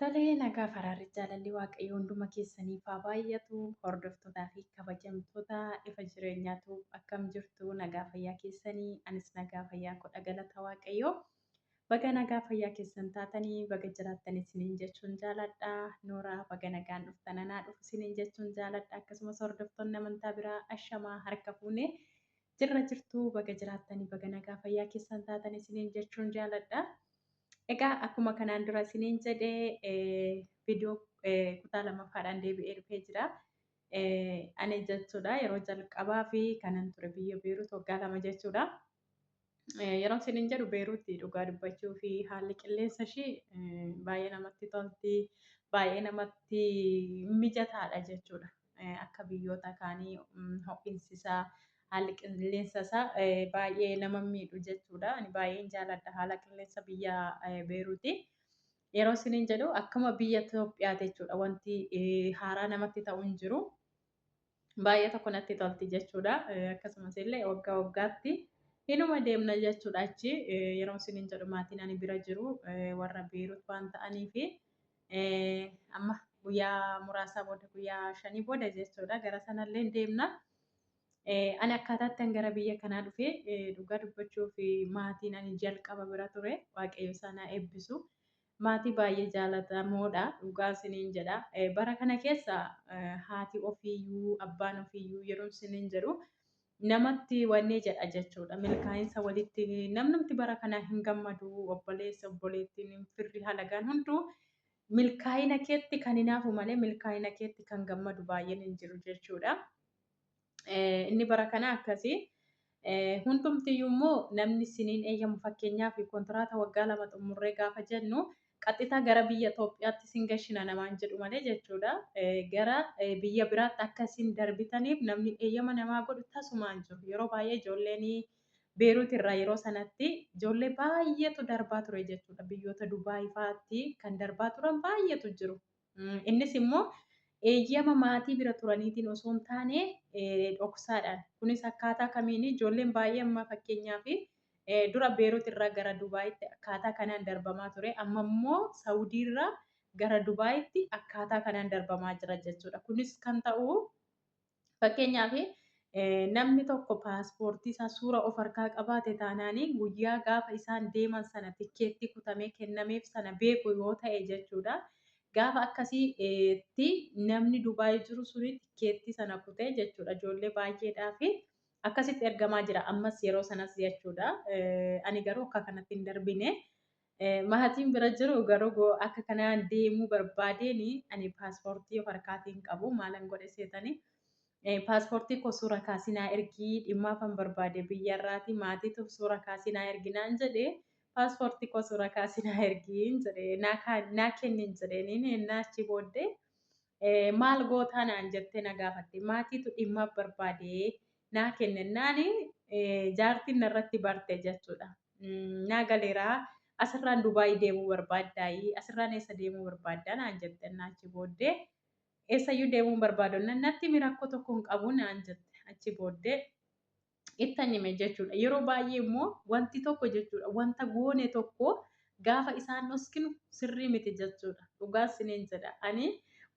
Tolee nagaa faraarri jaalalli waaqayyo hunduma keessaniif haa baay'atu hordoftootaa fi kabajamtoota ifa jireenyaatu akkam jirtu nagaa fayyaa keessanii anis nagaa fayyaa koo galata waaqayyo Baga nagaa fayyaa keessan taatanii baga jiraattan isiniin jechuun jaaladha. Nooraa baga nagaan dhuftan anaa dhufu isiniin jechuun jaaladha. Akkasumas hordoftoonni amantaa biraa ashamaa harka fuune jirra jirtu baga jiraattanii baga nagaa fayyaa keessan taatan isiniin jechuun jaaladha. Egaa akkuma kanaan dura isiniin jedhe viidiyoo kutaa lammaffaadhaan deebi'ee dhufee jira. Ani jechuudha yeroo jalqabaa fi kanan ture biyya Beerut waggaa lama jechuudha. Yeroo isiniin jedhu Beeruutti dhugaa dubbachuu fi haalli qilleensa ishii baay'ee namatti tolti, baay'ee namatti mijataadha jechuudha. Akka biyyoota kaanii ho'insi isaa haalli qilleensa isaa baay'ee nama miidhu jechuudha. Ani baay'een jaaladha haala qilleensa biyya Beeruuti. Yeroo isiniin jedhu akkuma biyya Itoophiyaa jechuudha wanti haaraa namatti ta'u hin jiru. baay'ee tokko natti tolti jechuudha. Akkasumas illee waggaa waggaatti inuma deemna jechuudha achi yeroo isiniin jedhu maatiin ani bira jiru warra Beerut waan ta'aniif amma guyyaa muraasaa booda guyyaa shanii booda jechuudha gara sanallee deemna. Ani akkaataatti gara biyya kanaa dhufe dhugaa dubbachuuf maatiin ani jalqaba bira ture waaqayyo isaanaa eebbisu. Maatii baay'ee jaalatamoodha dhugaa siniin jedha. Bara kana keessa haati ofiiyyuu abbaan ofiiyyuu yeroon siniin jedhu namatti wanni jedha jechuudha. Milkaa'insa walitti namnumti bara kana hin gammadu obboleessa obboleettiin firri halagaan hunduu milkaa'ina keetti kan hinaafu malee milkaa'ina keetti kan gammadu baay'een hin jiru jechuudha. inni bara kana akkasii. Hundumtiyyuu immoo namni siniin eeyyamu fakkeenyaaf kontiraata waggaa lama xumurree gaafa jennu qaxxitaa gara biyya Itoophiyaatti sin gashina namaan jedhu malee jechuudha. Gara biyya biraatti akka sin darbitaniif namni eeyyama namaa godhu tasumaan jiru. Yeroo baay'ee ijoolleen Beeruut irraa yeroo sanatti ijoollee baay'eetu darbaa ture jechuudha. Biyyoota Dubaayii fa'aatti kan darbaa turan baay'eetu jiru. Innis immoo eeyyama maatii bira turaniitiin osoo hin taane dhoksaadhaan. Kunis akkaataa kamiini? Ijoolleen baay'ee amma fakkeenyaaf dura Beerut irraa gara Dubaayitti akkaataa kanaan darbamaa ture. Amma immoo Saawudii irraa gara Dubaayitti akkaataa kanaan darbamaa jira jechuudha. Kunis kan ta'u Fakkeenyaaf namni tokko paaspoortii isaa suura of harkaa qabaate taanaan guyyaa gaafa isaan deeman sana tikkeettii kutamee kennameef sana beeku yoo ta'e jechuudha. Gaafa akkasiitti namni Dubaay jiru suni tikkeettii sana kutee jechuudha ijoollee baay'eedhaa fi akkasitti ergamaa jira ammas yeroo sanas jechuudha. Ani garuu akka kanatti hin darbine. Maatiin bira jiru garuu akka kana deemuu barbaadeen ani paaspoortii of harkaatii hin qabu maalan godhe seetanii paaspoortii koo suura kaasii naa ergii dhimmaafan barbaade biyyarraati maatiituuf suura kaasii naa ergi naan jedhe paaspoortii koo suura kaasii naa ergiin jedhe naa kennin jedheen inni ennaa achi booddee Maal gootaa naan jettee na gaafatte. Maatiitu dhimmaaf barbaade naa kennennaan jaartiin narratti barte jechuudha. Naa galeeraa asirraan Dubaayii deemuu barbaaddaayii asirraan eessa deemuu barbaaddaa naan jettennaa achi booddee eessayyuu deemuun barbaadonnan natti himi rakkoo tokko hin qabu naan jette achi booddee ittan hime jechuudha. Yeroo baay'ee immoo wanti tokko jechuudha wanta goone tokko gaafa isaan dhoskinu sirrii miti jechuudha. Dhugaa isiniin jedha. Ani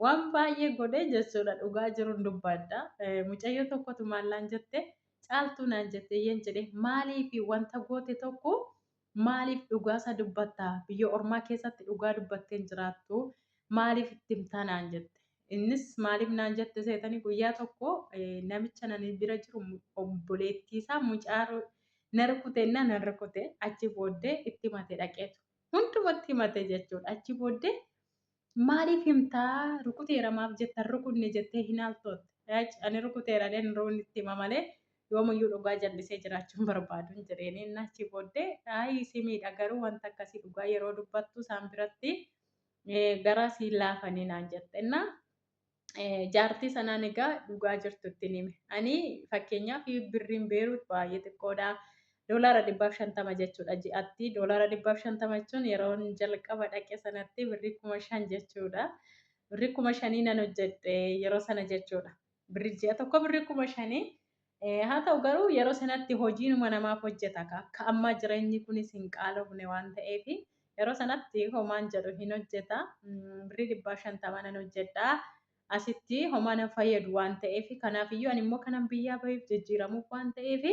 waan baay'ee godhe jechuudha dhugaa jiruun dubbaadha. Mucayyoo tokkotu maallaan jette caaltuu naan jette yeen jedhe maaliif wanta goote tokko Maaliif dhugaasa dubbatta? Biyya ormaa keessatti dhugaa dubbattee hin jiraattu. Maaliif itti himtaa naan jette. Innis maaliif naan jette seetanii guyyaa tokko namicha nani bira jiru obboleettii isaa mucaa na rukute innaa nan rukute achi booddee itti himate dhaqeetu. Hundumatti himate jechuudha. Achi booddee Maaliif himta rukuteera maaf jetta rukunne jettee hin haaltootte. Ani rukuteera jedhee hin rukunne itti hima malee yoomuyyuu dhugaa jallisee jiraachuu hin barbaadu hin jedheeni. Inni achii booddee aayii si miidha garuu wanta akkasii dhugaa yeroo dubbattu isaan biratti garaa si hin laafanii naan jette. Innaa jaartii sanaan egaa dhugaa jirtu ittiin hime. Ani fakkeenyaaf birriin beeruut baay'ee xiqqoodha. Doolaara dhibbaaf shantama jechuudha ji'atti. Doolaara dhibbaaf shantama jechuun yeroon jalqaba dhaqe sanatti birrii kuma shan jechuudha. Birrii kuma shanii nan hojjedhe yeroo sana jechuudha. Birrii ji'a tokko birrii kuma shanii Haa ta'u garuu yeroo sanatti hojiinuma namaaf hojjeta ka akka ammaa jireenyi kunis hin qaalofne waan ta'eef yeroo sanatti homaan jedhu hin hojjeta birrii dhibbaa shantamaa nan hojjedha asitti homaa nan fayyadu waan ta'eef kanaafiyyuu ani immoo kanan biyyaa baheef jijjiiramuuf waan ta'eef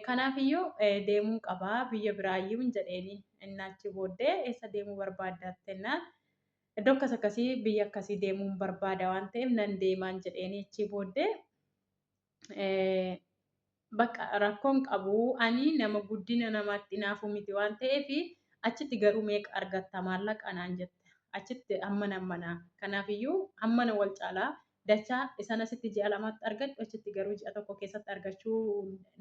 kanaafiyyuu deemuun qabaa biyya biraayyuu hin jedheeni innaachi booddee eessa deemuu barbaaddattennaan iddoo akkas akkasii biyya akkasii deemuun barbaada waan ta'eef nan deemaan jedheeni achii booddee bakka rakkoon qabu ani nama guddina namaatti naafu miti waan ta'eef achitti garuu meeqa argatta maallaqa naan jette achitti hammana hammana kanaafiyyuu hammana wal caalaa dachaa isaan asitti ji'a lamaatti argadhu achitti garuu ji'a tokko keessatti argachuu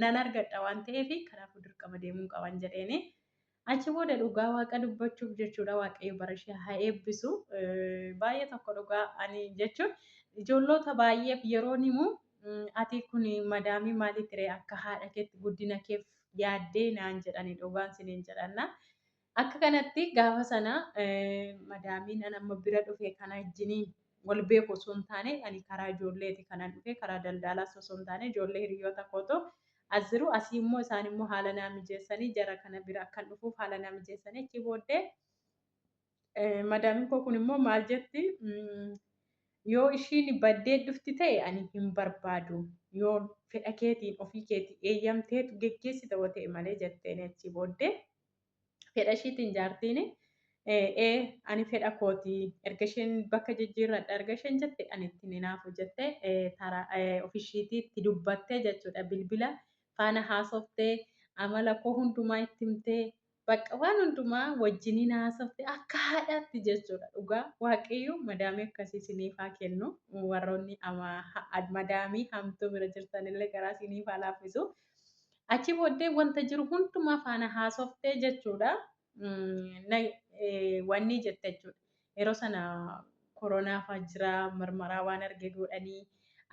nan argadha waan ta'eef kanaafuu dirqama deemuun qaban jedheeni. Achi booda dhugaa waaqa dubbachuuf jechuudha waaqayyo bara ishee haa eebbisu baay'ee tokko dhugaa ani jechuun ijoolloota baay'eef yeroon himu ati kun madaamii maalii tiree akka haadha keetti guddina keef yaaddee naan jedhani dhugaan siniin jedhanna. Akka kanatti gaafa sana madaamiin an amma bira dhufe kana ijjiniin wal beeku osoo hin taane ani karaa ijoolleeti kanan dhufe karaa daldaalaa osoo hin taane ijoollee hiriyoota kootoo as jiru. Asii immoo isaan immoo haala naa mijeessanii jara kana bira akkan dhufuuf haala naa mijeessanii achii booddee eh, madaamin koo kun immoo maal jetti mm, yoo ishiin baddee dhufti ta'e ani hin barbaadu yoo fedha keetiin ofii keetii eeyyamteetu geggeessita yoo ta'e malee jetteen achii booddee fedha ishiitiin jaartiin ee ani fedha kooti erga isheen bakka jijjiirradha erga isheen jette ani itti ninaafu jette tara ofishiitii itti dubbattee jechuudha bilbila faana haasoftee amala koo hundumaa itti himtee bakka waan hundumaa wajjiniin haasoftee akka haadhaatti jechuudha dhugaa waaqayyoo madaamii akkasii siniif haa kennu warroonni madaamii hamtuu bira jirtanillee garaa siniif haa laaffisu. Achi booddee wanta jiru hundumaa faana haasoftee jechuudha. Wanni jette jechuudha. Yeroo sana koronaa fa'aa jira marmaraa waan arge godhanii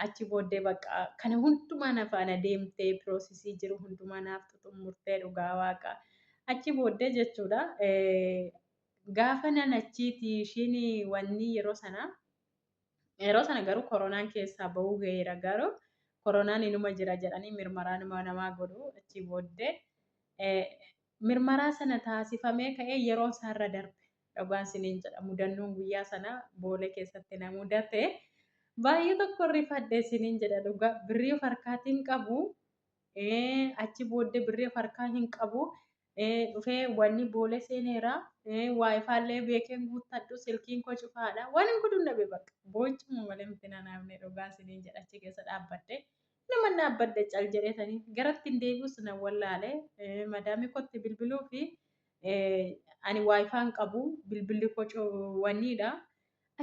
achi booddee bakka kana hundumaa na faana deemtee piroosisii jiru hundumaa naaf xumurtee dhugaa waaqa. Achi booddee jechuudha gaafa nan achiiti ishiin wanni yeroo sana Yeroo sana garuu koronaan keessaa ba'uu gaheera garuu koronaan inuma jira jedhanii mirmaraa nama namaa godhu achii booddee eh, mirmaraa sana taasifamee ka'ee yeroon isaarra darbe dhugaan siniin jedha mudannoon guyyaa sana boolee keessatti na mudate baay'ee tokko rifadhe siniin jedha dhugaa birrii of harkaatiin qabu eh, achi booddee birrii of harkaa hin qabu dhufee wanni boolee seeneera waayifaallee beekeen guuttadhu silkiin koo cufaadha waan hin godhuun dhabe bakka boochuma malee miti nanaafne dhugaa siniin jedha achi keessa dhaabbadhe nama dhaabbadhe cal jedheetanii garatti hin deebi'us na wallaale madaamii kootti bilbiluu fi ani waayifaan qabu bilbilli koo wanniidha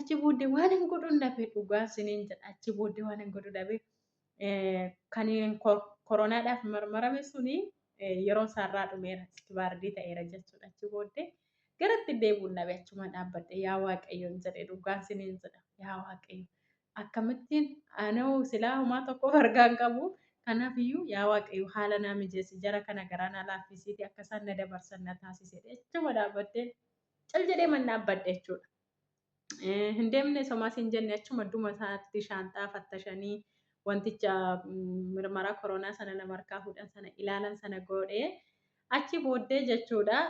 achi booddee waan hin godhuun dhabe dhugaa siniin jedha achi booddee waan hin godhu dhabe Kan koronaadhaaf marmarame suni yeroon isaarraa dhumeera iskibaardii ta'eera jechuudha achi booddee garatti deebuun dhabe achuma dhaabbadhe yaa waaqayyoon jedhe dhugaan siniin jedha yaa waaqayyo akkamittiin anoo silaa homaa tokkoof argaan qabu kanaaf iyyuu yaa waaqayyo haala naa mijeessi jara kana garaa naa laaffisiiti akka isaan na dabarsan na taasise achuma dhaabbadhee cal jedhee man dhaabbadhe jechuudha. Hin deemne somaa siin jenne achuma duma isaatti shaanxaa fattashanii wanticha mirmaraa koronaa sana nama harkaa fuudhan sana ilaalan sana goodhee achi booddee jechuudha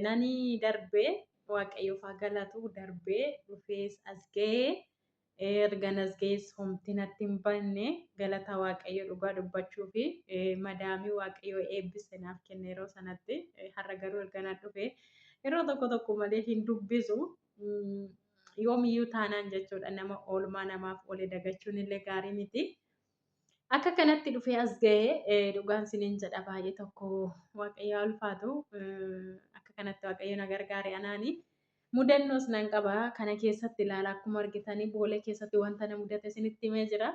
nani darbee waaqayyoof haa galatu darbee dhufees as ga'ee erga nas ga'ees homti natti hin banne galata waaqayyo dhugaa dubbachuu fi madaamii waaqayyoo eebbise naaf kenne yeroo sanatti har'a garuu erga na dhufee Yeroo tokko tokko malee hin dubbisu. Yoomiyyuu taanaan jechuudha nama oolmaa namaaf oole dagachuun illee gaarii miti. Akka kanatti dhufee as ga'ee dhugaan siniin jedha baay'ee tokko waaqayyo ulfaatu akka kanatti waaqayyo na gargaare anaani. Mudannoos nan qaba kana keessatti ilaala akkuma argitanii boolee keessatti wanta na mudate isinitti himee jira.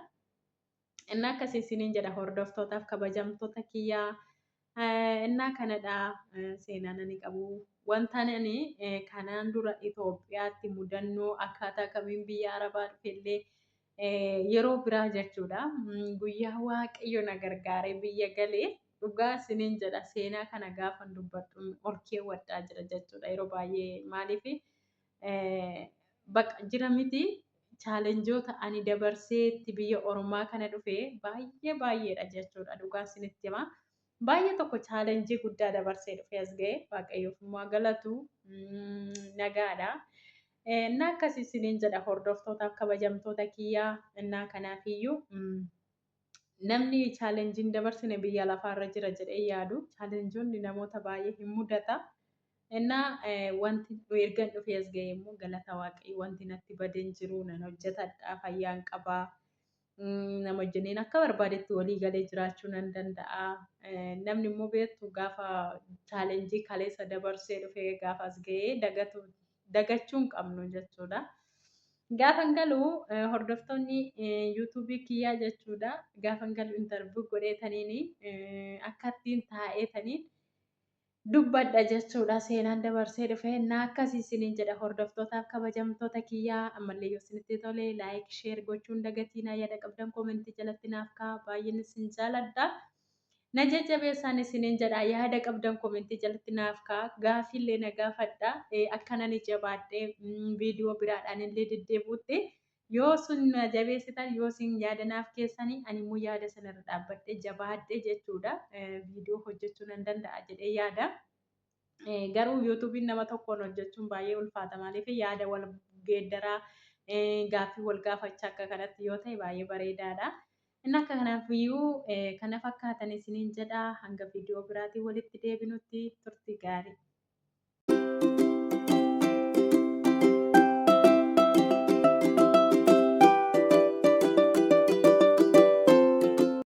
Innaa akkasii isiniin jedha hordoftootaaf kabajamtoota kiyyaa innaa kanadha seenaan ani qabu. Wantaan ani kanaan dura Itoophiyaatti mudannoo akkaataa kamiin biyya Arabaa dhufellee yeroo biraa jechuudha. Guyyaa waaqayyo na gargaaree biyya galee dhugaa isiniin jedha seenaa kana gaafan dubbadhu ol keewwadhaa jira jechuudha yeroo baay'ee maaliif Baqa jira miti chaalenjoota ani dabarsee itti biyya ormaa kana dhufe baay'ee baay'eedha jechuudha dhugaan sinitti hima. Baay'ee tokko chaalenjii guddaa dabarsee dhufe as ga'e waaqayyoof immoo galatu nagaadha. Innaa akkasii siniin jedha hordoftootaaf kabajamtoota kiyyaa innaa kanaafiyyuu Namni challenge hin dabarsine biyya lafaa irra jira jedhee yaadu challengeonni namoota baay'ee hin mudata. Innaa wanti ergan dhufee as ga'e immoo galata waaqayyo wanti natti bade hin jiru nan hojjetadha fayyaan qaba. Nama wajjiniin akka barbaadetti walii galee jiraachuu nan danda'a. Namni immoo beektu gaafa challenge kaleessa dabarsee dhufee gaafa as ga'ee dagatu dagachuu hin qabnu jechuudha. Gaafan galu hordoftoonni yuutuubii kiyyaa jechuudha. Gaafan galu intarvuu godheetaniin akkattiin taa'eetaniin dubbadha jechuudha. Seenaan dabarsee dhufe naa akkasii isiniin jedha hordoftootaaf kabajamtoota kiyyaa ammallee yoo isinitti tole laayik sheer gochuun dagatiinaa yaada qabdan koomentii jalatti naaf kaa baay'een isin jaaladha. Na jajjabeessaan isiniin jedha yaada qabdan komentii jalatti naaf ka'a gaaffiillee na gaafadha akkanani jabaadhee viidiyoo biraadhaan illee deddeebuutti yoo sun na jabeessitan yoo sin yaada naaf keessanii ani immoo yaada sanarra dhaabbadhee jabaadhee jechuudha viidiyoo hojjechuu nan danda'a jedhee yaada. Garuu yuutuubiin nama tokkoon hojjechuun baay'ee ulfaata maaliif yaada wal geeddaraa gaaffii wal gaafachaa akka kanatti yoo ta'e baay'ee bareedaadha. Inni akka kanaaf iyyuu kana fakkaatan isiniin jedha hanga viidiyoo biraatiin walitti deebinutti turtii gaarii.